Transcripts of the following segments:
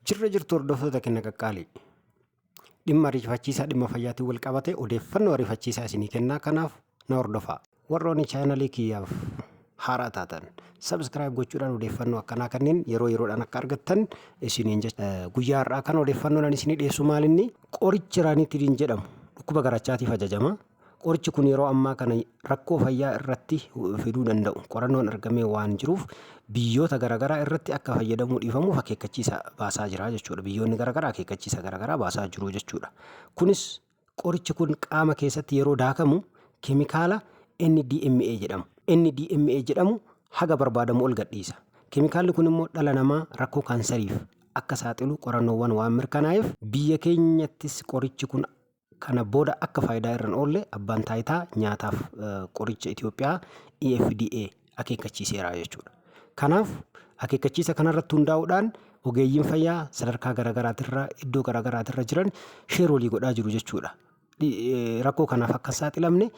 Jirra jirtu hordoftoota kenna qaqqaalii. Dhimma ariifachiisaa dhimma fayyaatiin wal qabatee odeeffannoo ariifachiisaa isinii kennaa kanaaf na hordofaa. Warroonni chaanalii kiyyaaf haaraa taatan subscribe gochuudhaan odeeffannoo akkanaa kanneen yeroo yeroodhaan akka argattan isiniin jecha. Guyyaa har'aa kan odeeffannoon ani isinii dhiyeessu maalinni qorichi raaniitidin jedhamu dhukkuba garachaatiif ajajama. Qorichi kun yeroo ammaa kana rakkoo fayyaa irratti fiduu danda'u qorannoon argamee waan jiruuf biyyoota garaagaraa irratti akka fayyadamuu dhiifamuuf akeekkachiisa baasaa jira jechuudha. Biyyoonni garaagaraa akeekkachiisa garaagaraa baasaa jiru jechuudha. Kunis qorichi kun qaama keessatti yeroo daakamu keemikaala NDMA jedhamu. NDMA jedhamu haga barbaadamu ol gadhiisa. Keemikaalli kun immoo dhala namaa rakkoo kaansariif akka saaxilu qorannoowwan waan mirkanaa'eef biyya keenyattis qorichi kun Kana booda akka faayidaa irra hin oolle Abbaan Taayitaa Nyaataaf Qoricha Itoophiyaa EFDA akeekkachiiseera jechuudha. Kanaaf akeekkachiisa kanarratti hundaa'uudhaan ogeeyyiin fayyaa sadarkaa garaagaraatirra iddoo garaagaraatirra jiran sheer walii godhaa jiru jechuudha. Rakkoo kanaaf akka hin saaxilamne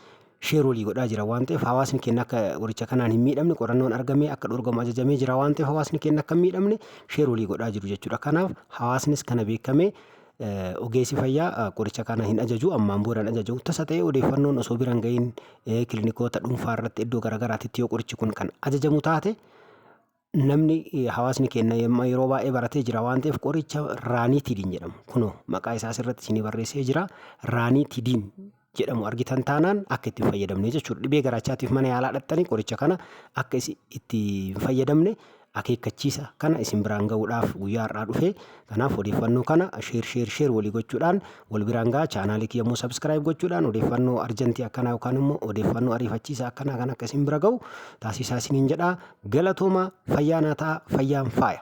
sheer walii godhaa jira waan ta'eef hawaasni keenya akka qoricha kanaan hin miidhamne qorannoon argamee akka dhorgamu ajajamee jira waan ta'eef hawaasni keenya akka hin miidhamne sheer walii godhaa jiru jechuudha. Kanaaf hawaasnis kana beekamee ogeessi fayyaa qoricha kana hin ajaju ammaan booda hin ajaju tasa ta'ee odeeffannoon osoo bira hin ga'iin kilinikoota dhuunfaa irratti iddoo garaagaraatti yoo qorichi kun kan ajajamu taate namni hawaasni keenya yeroo baay'ee baratee jira waan ta'eef qoricha raaniitidiin jedhamu kunoo maqaa isaas irratti isinii barreessee jira raaniitidiin jedhamu argitan taanaan akka itti hin fayyadamne jechuudha dhibee garaachaatiif mana yaalaa dhaqxanii qoricha kana akka itti hin fayyadamne akeekkachiisa kana isin biraan ga'uudhaaf guyyaa har'aa dhufee Kanaaf odeeffannoo kana share share share walii gochuudhaan wal biraan gahaa chaanaalii kiyya immoo subscribe gochuudhaan odeeffannoo arjantii akkanaa yookaan immoo odeeffannoo ariifachiisa akkanaa kan akka isin bira ga'u taasisaa isiniin jedhaa galatooma fayyaa naa ta'a fayyaan faaya.